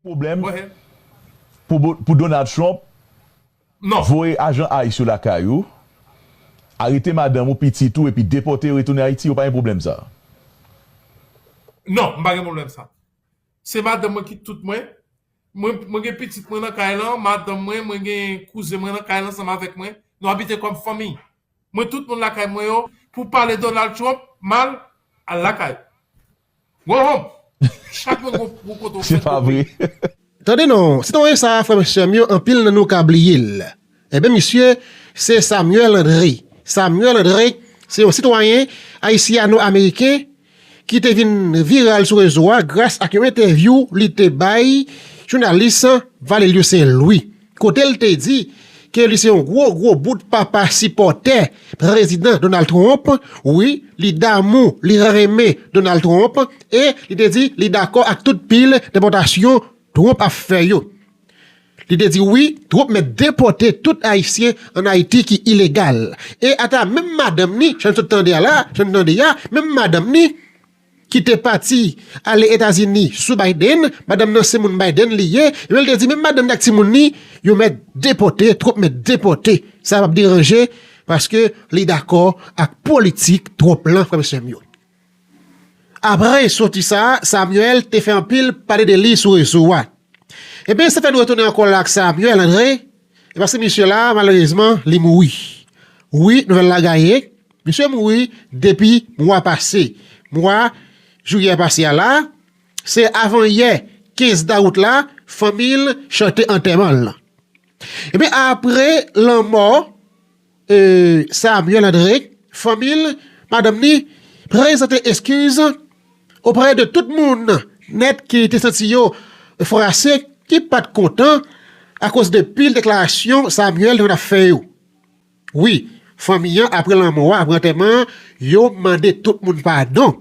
Pwoblèm pou Donald Trump voye ajan ice yo lakay ou, arete madanm ou, pitit ou epi depòte yo retounen Ayiti, yo pa gen pwoblèm sa a? Non, m pa gen pwoblèm sa a. Se madanm mwen ki tout mwen. Mwen gen pitit mwen nan kay lan, madanm mwen, mwen gen kouzen mwen nan kay lan ansanm avèk mwen. Nou abite kòm fanmi. Mwen tout moun lakay mwen yo, pou pale Donald Trump mal, al lakay ou. Mwen honm. Chak moun gon pou kote ou Se fèt pa vre. konpre. Tande non, ti Tonye sa a frè m sè m yo anpil nan nou ka bliye l. Enben misye se Samuel Andre. Samuel Andre se yon sitwayen ayisyano-ameriken ki te vin viral sou rezo a gras ak yon entèvyou li te bay jounalis Valelio Saint Louis. kote l te di ke li se yon gwo gwo bout papa sipòtè Prezidan Donald Trump, wi li damou, li renmen Donald Trump e li te di li dakò ak tout pil depòtasyon Trump ap fè yo. Li te di wi Trump mèt depòte tout Ayisyen an Ayiti ki ilegal e ata menm madanm ni, sa n sot tande a la, sa n tande a, menm madanm ni, ki te pati ale Etazini sou Biden, madanm nan se moun Biden li ye, epi li te di menm madanm ni ak timoun ni yo mèt depòte, Trump mèt depòte, sa pap deranje paske li dakò ak politik Trump lan frè m sè m yo. Apre soti sa, Samuel te fè anpil pale de li sou rezo a. Ebyen sa fè nou retounen ankò la ak Samuel Andre, e paske misye la malerezman li mouri. Wi nouvèl la gaye. Misye mouri depi mwa pase. Mwa Jiyè pase a la, se avan yè 15 dawout la fanmi l chante antèman l lan. Ebyen apre lanmò Samuel André, fanmi l, madanm ni, prezante eskiz oprè de tout moun nèt ki te santi yo fwase, ki pa t kontan akoz de pil deklarasyon Samuel te konn ap fè yo. Wi, fanmi an apre lanmò a, apre antèman an, yo mande tout moun padon.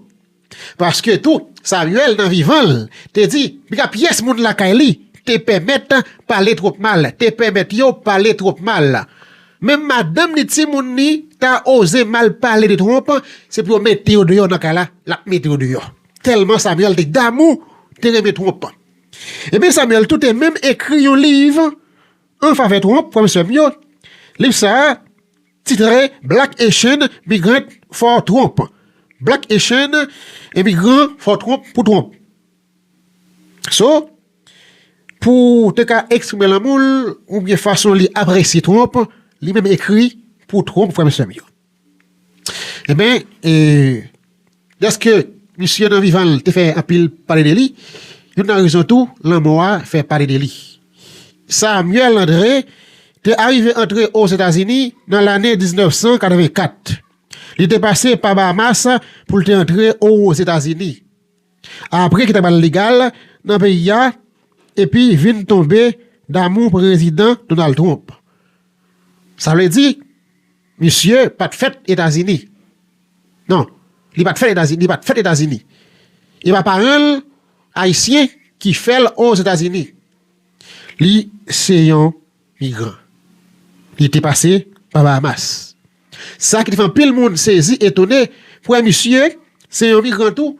Paske tou, Samyèl nan vivan l, te di, piga pyès moun lakay li, te pèmèt pale twòp mal, te pèmèt yo pale twòp mal. Menm madanm ni timoun ni ta oze mal pale de Twonp, se pou yo mete yo deyò nan kay la, l ap mete yo deyò. Tèlman Samyèl te damou, te renmen Twonp. Enben Samyèl tou te menm ekri yon liv. An favè Trump, frè m sè m yo, liv sa a titre Black Haitian Migrant for Trump, Black Haitian Imigran for Trump, Pou Trump. So, pou w te ka eksprime lanmou l oubyen fason li apresye Trump, li menm ekri Pou Trump, frè m sè m yo. Enben, e, dèske misye nan vivan l te fè anpil pale de li, youn nan rezon tou lanmò a fè pale de li. Samuel André te arive antre Ozetazini nan lane 1984. Li te pase pa Bahamas pou l te antre Ozetazini, apre ki ta pral legal nan peyi a, epi vin tonbe damou Prezidan Donald Trump. Sa vle di. Misye pat fèt etazini nan li pat fèt etazini li pat fèt etazini epa paranl ayisyen ki fèl ozetazini li se yon migran li te pase pa bahamas sa ki te fè anpil moun sezi etone pou wè misye se yon migran tou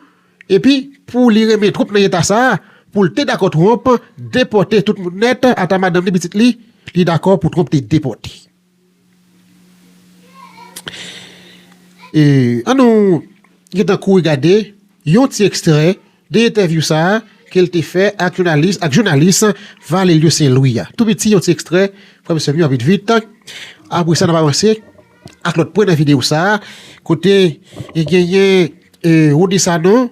epi pou li renmen twop nan eta sa poul te dakò twonp depòte tout moun nèt ata madanm li pitit li li dakò pou twonp te depòte. An nou gentan kouri gade yon ti ekstrè de entèvyou sa a ke l te fè ak jounalis Valelio Sen Lwi a. Tou piti yon ti ekstrè, frè m sè m yo, vit vit. Apre sa n ap avanse ak lòt pwen nan videyo sa a kote genyen Rony Sanon.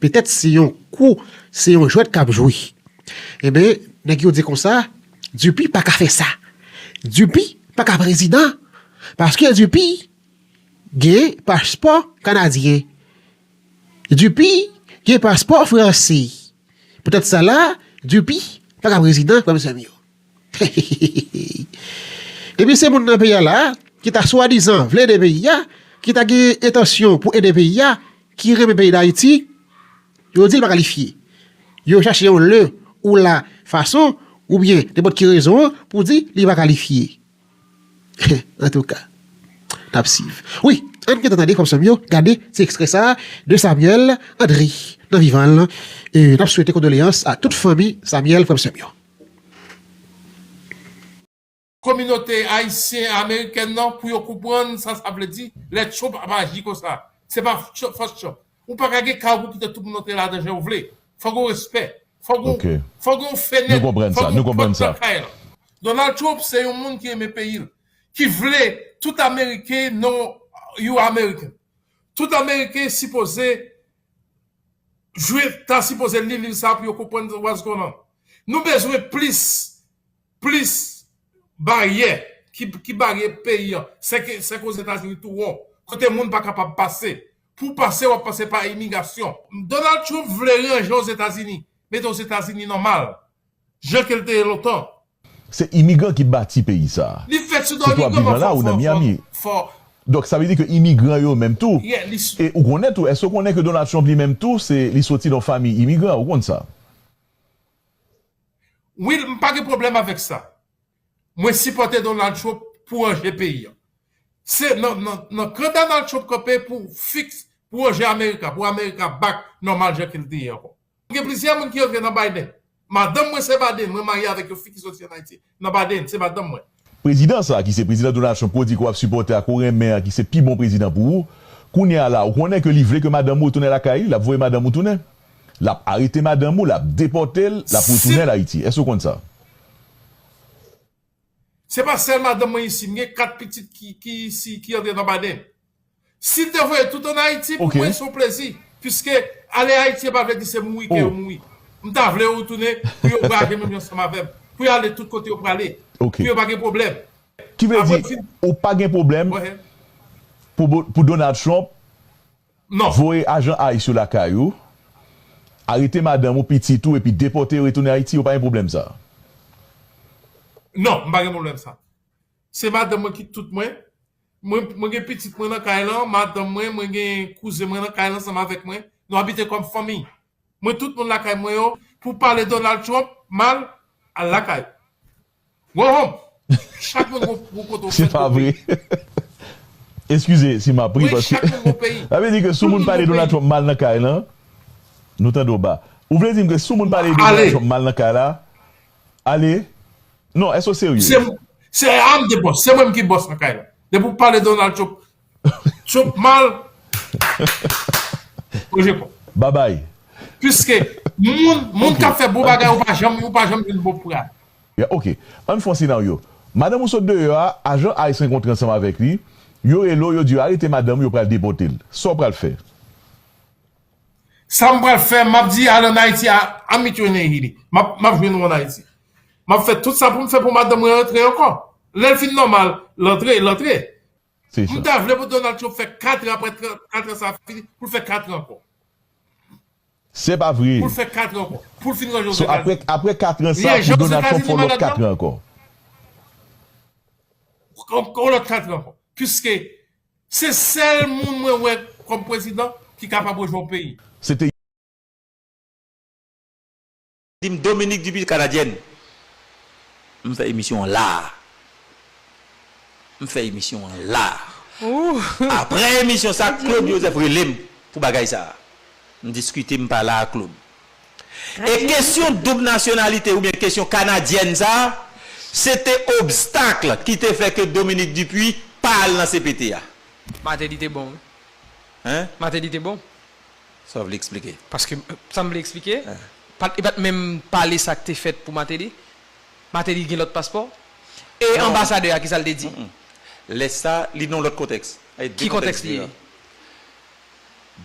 Petèt se yon kou, se yon jwèt k ap jwe. Enben, nèg yo di konsa, Dupi pa ka fè sa. Dupi pa ka prezidan paske Dupi gen paspò kanadyen. Dupi gen paspò franse. Poutèt sa la, Dupi pa ka prezidan, frè m sè m yo. Heheheheheh Epi se moun nan peyi a la a ki ta swadizan vle ede peyi a, ki ta gen entansyon pou ede peyi a, ki renmen peyi Dayiti, yo di l pa kalifye. Yo chache yon le ou la fason oubyen nenpòt ki rezon an pou di li pa kalifye. Heh antouka n ap siv. Wi, ann gentan tande frè m sè m yo, gade ti ekstrè sa a de Samyèl Andri nan vivan l. N ap swete kondoleyans a tout fanmi Samyèl frè m sè m yo. Kominote Ayisyen Amerikèn nan pou yo konprann sa sa vle di lè Trump ap aji konsa. Se pa fòs Trump. Ou pa ka gen kay ou pou kite tout moun antre ladan jan ou vle. Fò gen respè. Fò gen yon fenèt. Fò gen yon pòt nan kay lan. Donald Trump se yon moun ki renmen peyi l. Ki vle tout Ameriken nan yon Ameriken. Tout Ameriken sipoze. Juif ta sipoze li liv sa pou yo konprann waz kò nan. Nou bezwen plis plis baryè ki bare peyi an. Sèk Ozetazini tou won, kote moun pa kapab pase. Pou w pase w ap pase pa imigasyon. Donald Trump vle ranje Ozetazini, mete Ozetazini nòmal. Jan ke l te ye lontan. Se imigran ki bati peyi sa a. Li fèt sou do Sitou ap imigran viv lan la ou nan Miami. fò. Donk sa vle di ke imigran yo menm tou. Yeah, li. E ou konnen tou, èske ou konnen ke Donald Trump li menm tou se li soti nan famiy imigran, ou konn sa? Wi, m pa gen pwoblèm avèk sa. Mwen sipòte Donald Trump pou ranje peyi a. Se nan, nan, nan kan Donald Trump kanpe pou fix, pou ranje America, pou America back nòmal jan ke l te ye ankò. Mwen gen plizyè moun ki antre nan Biden. Madanm mwen se Baden, mwen marye avèk yon fi ki soti an Ayiti, nan Baden, se madanm mwen. Prezidan sa a ki se Prezidan Donald Trump ke w di ke w ap sipòte a ke w renmen an ki se pi bon prezidan pou ou, kounye a la ou konnen ke li vle ke madanm ou retounen lakay li, l ap voye madanm ou tounen. L ap arete madanm ou, l ap depòte l, l ap retounen l Ayiti. Èske ou konn sa? Se pa sèl madanm mwen isi, m gen 4 pitit ki isi, ki antre nan Baden. Sil te voye tout an Ayiti pou mwen son plezi puiske ale Ayiti epa vle di se mouri ke yo mouri. M ta vle yo retounen pou yo vwayaje menm jan ansanm avèm pou yo ale tout kote yo prale pou yo pa gen pwoblèm. Ki vle di ou pa gen pwoblèm pou Donald Trump voye ajan ice yo lakay ou, arete madanm ou, pitit ou epi depòte yo retounen Ayiti ou pa gen pwoblèm sa? Non m pa gen pwoblèm sa. Se madanm mwen ki tout mwen. Mwen gen pitit mwen nan kay lan, madanm mwen, mwen gen kouzen mwen nan kay lan ansanm avèk mwen. Nou abite kòm fanmi. Mwen tout moun lakay mwen yo pou pale Donald Trump mal, al lakay ou. Go home! Chak moun gon kote ou fèt, gon peyi. Se pa vre. Eskize si map ri paske. Wi, chak moun gon peyi. Sa vle di ke si moun pale Donald Trump mal nan kay lan, nou tande w ba. Ou vle di m ke si moun pale Donald Trump mal nan kay la, Ale Non eske w serye? Se a m te bòs, se mwen m ki bòs nan kay la. Depi w pale Donald Trump Trump mal, ou je kò. Babay. Piske moun k ap fè bon bagay ou pa janm jwenn bon pral. Ya ok, ann fè yon senaryo. Madanm ou sot deyò a, ajan ice rankontre ansanm avèk li, yo rele w, yo di w arete madanm ou yo pral depote l. Sa w pral fè? Sa m pral fè, m ap di al ann Ayiti, I'll meet you in Haiti. M ap jwenn ou ann Ayiti. M ap fè tout sa pou m fè pou madanm mwen antre ankò. Lè l fin nòmal, l antre, l antre. M ta vle pou Donald Trump fè katran aprè katran sa a fini, pou l fè katran ankò. Se pa vre! Pou l fè katran ankò. Pou l fin ranje Ozetazini. So aprè katran sa a, pou Donald Trump fè yon lòt katran ankò. Yon lòt katran ankò. Piske. Se sel moun mwen wè kom prezidan ki kapab rejwen yon peyi. Se te. Dim Dominique Dupuy Canadienne m fè emisyon an la a m fè emisyon an la a aprè emisyon sa Claude Joseph relem pou bagay sa a m diskite m pale a Claude. E kesyon doub nasyonalite oubyen kesyon kanadyèn sa a, se te obstacle ki te fè ke Dominique Dupuy pa al nan cpt a. Martelly te bon wi. Hein? Martelly te bon. Sa w vle eksplike? Paske, sa m vle eksplike, pat, li pat menm pale sa k te fèt pou Martelly. Martelly gen lòt paspò. E anbasadè a, ki sa l te di? Lè sa, li nan yon lòt kontèks. Ki kontèks li ye?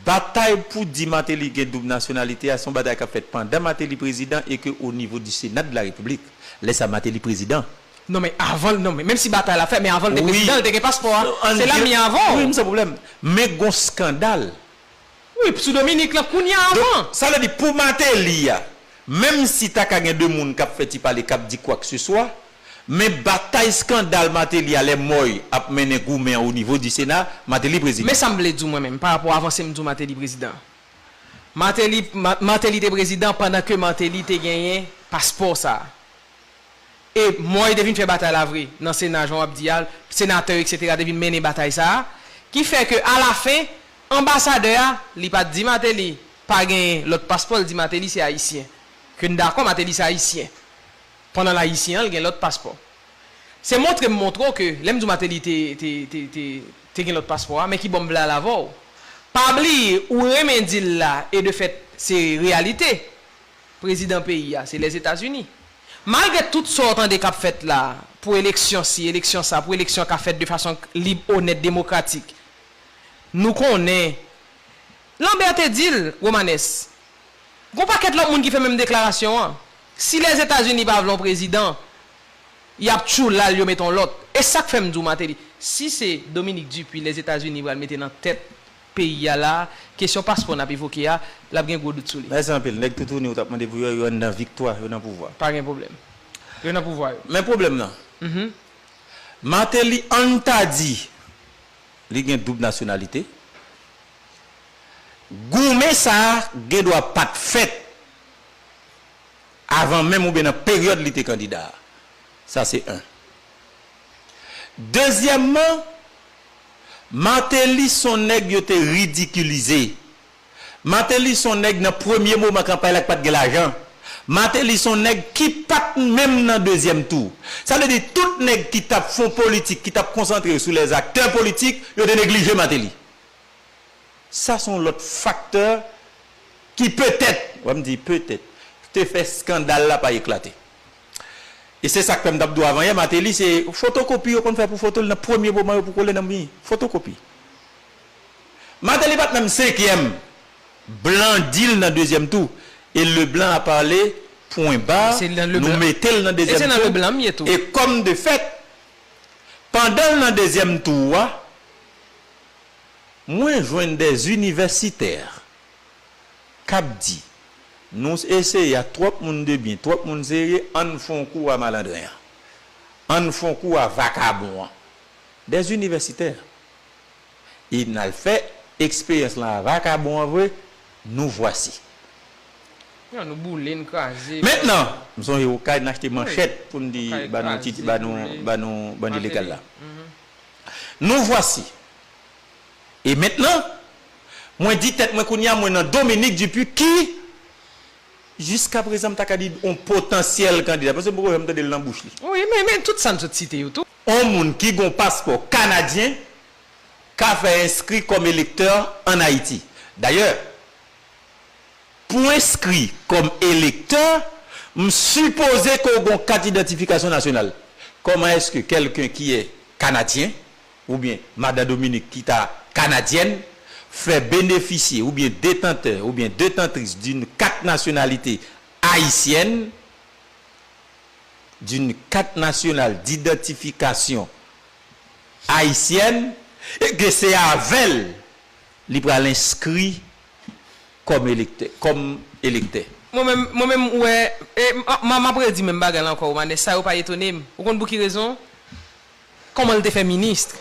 Batay pou di Martelly gen doub nasyonalite a son batay kap fèt pandan Martelly prezidan e ke o nivo di Senat de la Repiblik. Lè sa Martelly prezidan. Non men avan non men menm si batay la fèt men avan l te prezidan l te gen paspò a se la m ye avan w. Wi m san pwoblèm men gon skandal. Wi sou Dominique lan kounya avan. Donk sa vle di pou Martelly a menm si ta ka gen 2 moun kap fè ti pale kap di kwakseswa Men batay skandal Martelly a lè Moy ap mennen goumen an onivo di Sena, Martelly prezidan. Men sa m vle di w mwen menm pa rapò avanse m di w Martelly prezidan. Martelly, Martelly te prezidan pandan ke Martelly te genyen paspò sa a. E Moy te vin fè batay la vre nan Sena jan w ap di a, senatè yo eksetera te vin mennen batay sa a, ki fè ke alafen anbasadè a li pa t di Martelly pa genyen lòt paspò, li di Martelly se ayisyen. Ke n dakò Martelly se ayisyen. Pandan l ayisyen an l gen lòt paspò. Se montre m montre w ke lè m di w Mateli te gen lòt paspò a men ki bò m vle al avè w. Pa bliye ou renmen di l la e de fèt se reyalite prezidan peyi a se Lèzetazini. Malgre tout sa w tande k ap fèt la pou eleksyon si eleksyon sa pou eleksyon ka fèt de fason lib onèt demokratik nou konnen Lanbè te di l Romanes Gon pakèt lòt moun ki fè menm deklarasyon an. Si Lèzetazini pa vle yon prezidan, y ap tjou la l yo mete yon lòt. E sa k fè m di w Mateli, si se Dominique Dupuy Lèzetazini pral mete nan tèt peyi a la a, kesyon paspò n ap evoke a, l ap gen gwo dout sou li. Mèsi anpil. Nèg toutouni ou t ap mande pou yo, yo anndan viktwa, yo nan pouvwa. Pa gen pwoblèm. Yo nan pouvwa yo. Men pwoblèm nan, Mateli an n ta di li gen doub nasyonalite, Goumen sa gen dwa pa t fèt avan menm oubyen nan peryòd li te kandida a. Sa se 1. Dezyèmman, Martelly s on nèg yo te ridikilize. Martelly s on nèg nan premye moman kanpay la ki pa t gen lajan. Martelly s on nèg ki pa t menm nan dezyèm tou. Sa vle di tout nèg ki t ap fè w politik, ki t ap konsantre yo sou lèzaktè politik, yo te neglije Martelly. Sa son lòt faktè ki petèt, wè m di petèt, te fè skandal la pa eklate. E se sa k fè m t ap di w avan yè, Mateli se fotokopi yo konn fè pou foto l nan premye moman yo pou kole nan mi. Fotokopi. Mateli pa t menm senkyèm. Blan di l nan dezyèm tou. E Leblan a pale, pwen ba, nou mete l nan dezyèm tou. E kòm de fèt, pandan l nan dezyèm tou a, Mwen jwenn dè inivèsitè kap di nou eseye a twòp moun de byen, twòp moun serye ann fon kou a malandren an. Ann fon kou a vakabon an. Dè inivèsitè. E nal fè eksperyans lan a vakabon an vre, nou vwasi. Yo nou boule, n kraze. Mentnan, m sonje okay n achte manchèt pou n di ba nou ti, ba nou, ba nou bandi legal la. Nou vwasi. E mentnan, mwen di tèt mwen kounye a mwen nan Dominique Dupuy ki, jiska prezan m ta ka di on potansyèl kandida, paske m poko janm tande l nan bouch li. Wi, men, men tout sa n sot site yo tou. On moun ki gen on paspò kanadyen ka fè enskri kòm elektè an Ayiti. Dayè, Pou enskri kòm elektè, m sipoze ke w gen yon kat idantifikasyon nasyonal. Kòman èske kèlken ki è Kanadyen, oubyen Madan Dominique ki ta Kanadyèn, fè benefisye oubyen detantè oubyen detantris d'une kat nasyonalite Ayisyèn, d'une carte nationale d'identification haïtienne, e ke se avè l li pral enskri kòm elektè, kòm elektè. Mwen menm, mwen menm wè, e m ap redi menm bagay la ankò Romanès, sa yo pa etone m. Ou konn pou ki rezon? Kòman l te fè ministre?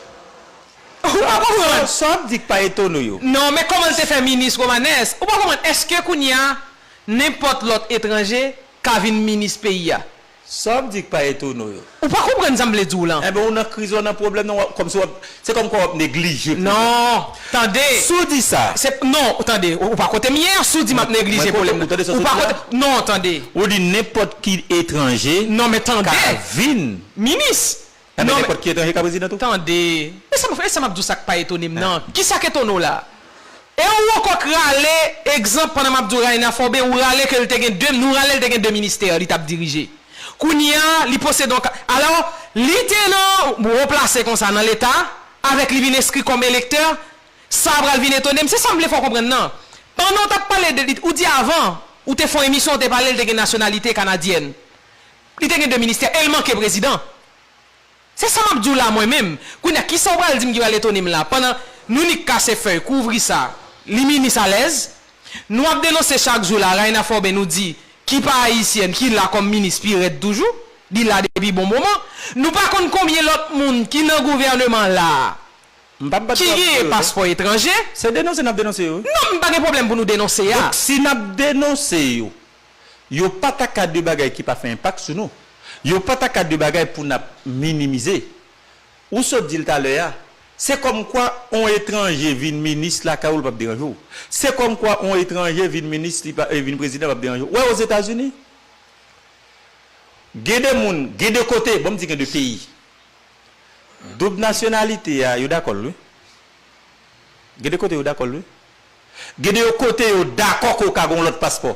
Ou pa konprann? Sa w ap di k pa etone w yo? Non, men kòman l te fè ministre Romanès? Ou pa konprann? Èske kounye a nenpòt lòt etranje ka vin ministre peyi a? Sa wap di k pa etone w yo. Ou pa konprann sa m vle di w lan. Enben ou nan kriz ou nan pwoblèm nan wap kòmsi wap se kòmkwa wap neglije pwoblèm nan. Non tande. Si w di sa. Se non tande ou pa kote m ye a si w di map neglije pwoblèm nan. Ou tande sa w sot di la. Non tande. Ou di nenpòt ki etranje. Non men tande. Ka vin. Minis. Sa vle di nenpòt ki etranje ka prezidan tou? Tande, e sa m ap e sa m ap di w sa k pa etone m nan? Ki sa k etone w la? E ou ankò k rale, egzanp, pandan m ap di w Raïna Forbé, ou rale ke l te gen 2, nou rale l te gen 2 ministè li t ap dirije. Kounye a, li posede yon ka, alò, li te nan yon wo plase konsa nan Leta, avèk li vin enskri kòm elektè, sa pral vin etone m? Se sa m vle fè w konprann nan. Pandan w t ap pale de li, ou di avan, ou te fè yon emisyon, ou te pale l te gen nasyonalite kanadyèn. Li te gen 2 ministè el manke prezidan. Se sa map diw la mwen menm. Kounya kisa ou pral dim ki pral etonem la pandan nou nik kase fèy kouvri sa li minis alèz nou ap denonse chak jou la Raina Forbin nou di ki pa ayisyèn ki la kòm minis pi rèd toujou li la depi bon moman nou pa konn konbyen lòt moun ki nan gouvèneman la M pap bat ki bravo pou genyen yo non. paspò etranje. Se denonse nap denonse yo wi. Non m pa gen pwoblèm pou nou denonse a. Donk si nap denonse yo Yo pa ta ka de bagay ki pa fè enpak sou nou. Yo pa ta ka de bagay pou n ap minimize. Ou sot di l talè a, se kòmkwa on etranje vin minis lakay ou l p ap deranje w. Se kòmkwa on etranje vin minis, li pa, vin prezidan p ap deranje w. Ou wè Ozetazini? Gen de moun, gen de kote, bon m di gen de peyi, doub nasyonalite a, yo dakò l wi. Gen de kote yo dakò l wi. Gen de yo kote yo dakò ke w ka gen yon lòt paspò.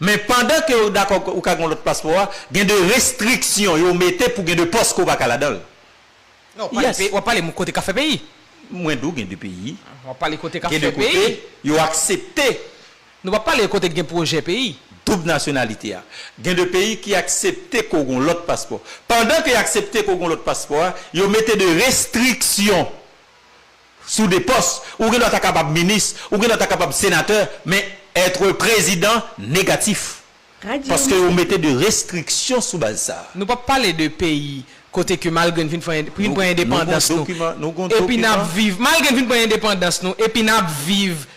Men pandan ke yo dakò ou ka gen yon lòt paspò a, gen de restriksyon yo mete pou gen de pòs ke w pa ka ladan l. Non, w pale peyi, w ap pale m kote ka fè peyi. Mwen di w gen de peyi. W ap pale kote ka fè peyi. Gen de kote yo aksepte. Nou pa pale kote ki gen pwojè peyi. Doub nasyonalite a. Gen de peyi ki aksepte ke w gen yon lòt paspò. Pandan ke y aksepte ke w gen yon lòt paspò a, yo mete de restriksyon. Si w de pòs, ou gendwa ta kapab minis, ou gendwa ta kapab senatè, men être prezidan negatif. Paske yo mete de restriksyon sou baz sa. Nou pap pale de peyi kote ke malgre n fin fè fin pran endepandans nou epi n ap viv malgre n fin pran endepandans nou epi n ap viv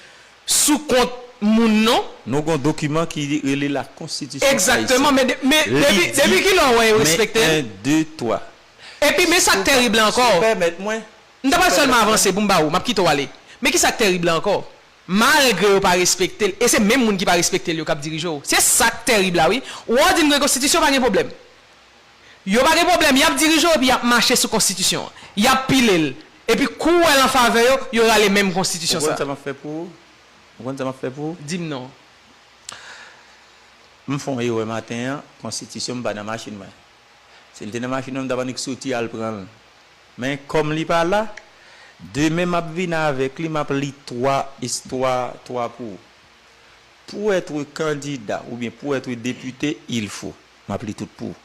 sou kont moun non. Nou gon dokiman ki rele la konstitisyon ayisyen. Egzakteman men men depi depi kilè w wè yo respekte l? Men 1 2 3. Epi men sa k terib la ankò. Si w pèmèt mwen. M ta pral sèlman avanse pou m ba ou, m ap kite w ale. Men ki sa k tèrib la ankò, malgre yo pa respekte l, e se menm moun ki pa respekte l yo k ap dirije w. Se sa k tèrib la wi. Ou wè w di m gen konstitisyon pa gen pwoblèm. Yo pa gen pwoblèm, y ap dirije w epi y ap mache sou konstitisyon an. Y ap pile l. Epi kou w wè l an favè yo, yo rale menm Ou konstitisyon sa konn sa a. m ap fè pou ou? Ou konn sa m ap fè pou ou? Di m non. M fè yon erè maten an, konstitisyon m pa nan machin mwen. Si l te nan machin nan m tap annik soti al pran l. Men kòm li pa la, demen map vin avèk li map li 3 istwa 3 pou ou. Pou être kandida oubyen pou être depite il fo map li tout pou ou.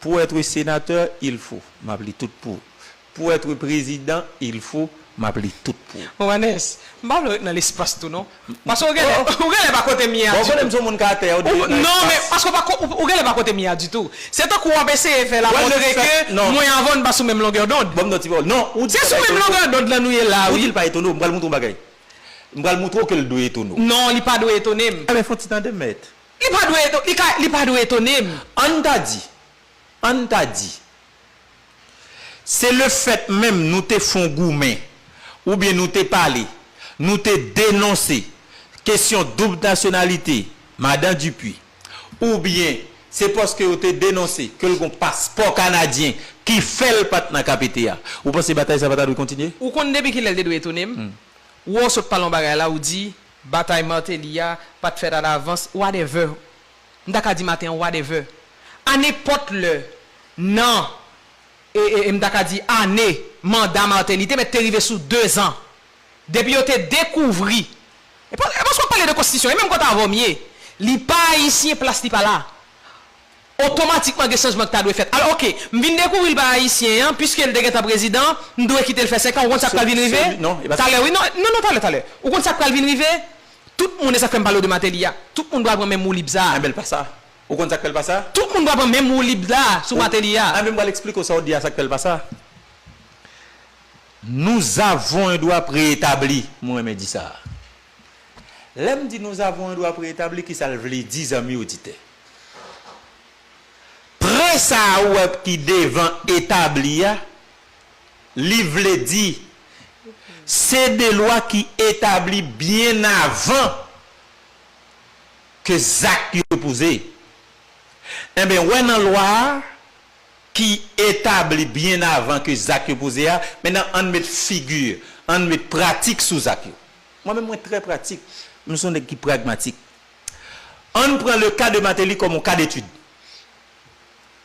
Pou être senatè il fo map li tout pou ou. Pour etre president il faut map li tout pou. Romanes, m pa vle ret nan lespas tou non. Paske ou genlè, ou genlè pa kote m ye a ditou. Bon, ou konnen m son moun ka tè, ou dwe ret nan espas. Non, men, paske ou pa ko, ou genlè pa kote m ye a ditou. Se tankou wap eseye fè la montre ke mwen avè w n pa sou menm longè dond. Banm yon ti pawòl. Non, ou di l pa etone w. Se sou menm longè dond lan nou ye la wi. Ou di l pa etone w, m pral montre w yon bagay. M pral montre w ke l dwe etone w. Non, li pa dwe etone m. Alè fon ti tande mèt. Li pa dwe, li ka, li pa dwe etone m. Ann ta di, Ann ta di, se lefèt menm nou te fon goumen oubyen nou te pale, nou te denonse kesyon doub nasyonalite Madan Dupuy, oubyen se paske yo te denonse ke l gon paspò kanadyen ki fè l pa t nan KPT a, ou panse batay sa pa ta dwe kontinye? Ou konn depi kilè l te dwe etone m? Wè w sot pale yon bagay la, ou di batay Martelly a pa t fèt alavans, wadèvè, m ta ka di maten an whatever, a nenpòt lè nan e, m ta ka di ane manda Martelly te mèt te rive sou dezan depi yo te dekouvri e pa, e paske w ap pale de konstitisyon e menm kòt avè w m ye li pa ayisyen plas li pa la otomatikman gen chanjman ki ta dwe fèt alò ok m vin dekouvri l pa ayisyen an piske l te gentan prezidan m dwe kite l fè senkan ou konn sa k pral vin rive talè wi non non talè talè ou konn sa k pral vin rive Tout moun e sak fèm palew de Mateli a tout moun pral pran menm woulib sa. Enben l pa sa. Ou konn sak fè l pa sa? Tout moun pral pran menm woulib la sou Mateli a. Enben m pral eksplike w sa w di a sak fè l pa sa. Nous avons un droit préétabli m renmen di sa a. Lè m di nous avons un droit préétabli kisa l vle di zanmi oditè? Pre sa a ou wè ki devan etabli a li vle di, se de lwa ki etabli byen avan ke zak yo poze. Enben, wè nan lwa a ki etabli byen avan ke zak yo poze a, mennan ann met figi, ann met pratik sou zak yo. Mwen menm mwen trè pratik, m son nèg ki pragmatik. Ann pran le ka de Mateli kòm yon ka detid.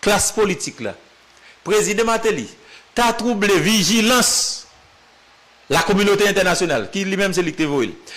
klas politik la, Prezidan Martelly ta twouble vijilans lakominote entènasyonal, ki li menm se li ki te voye l.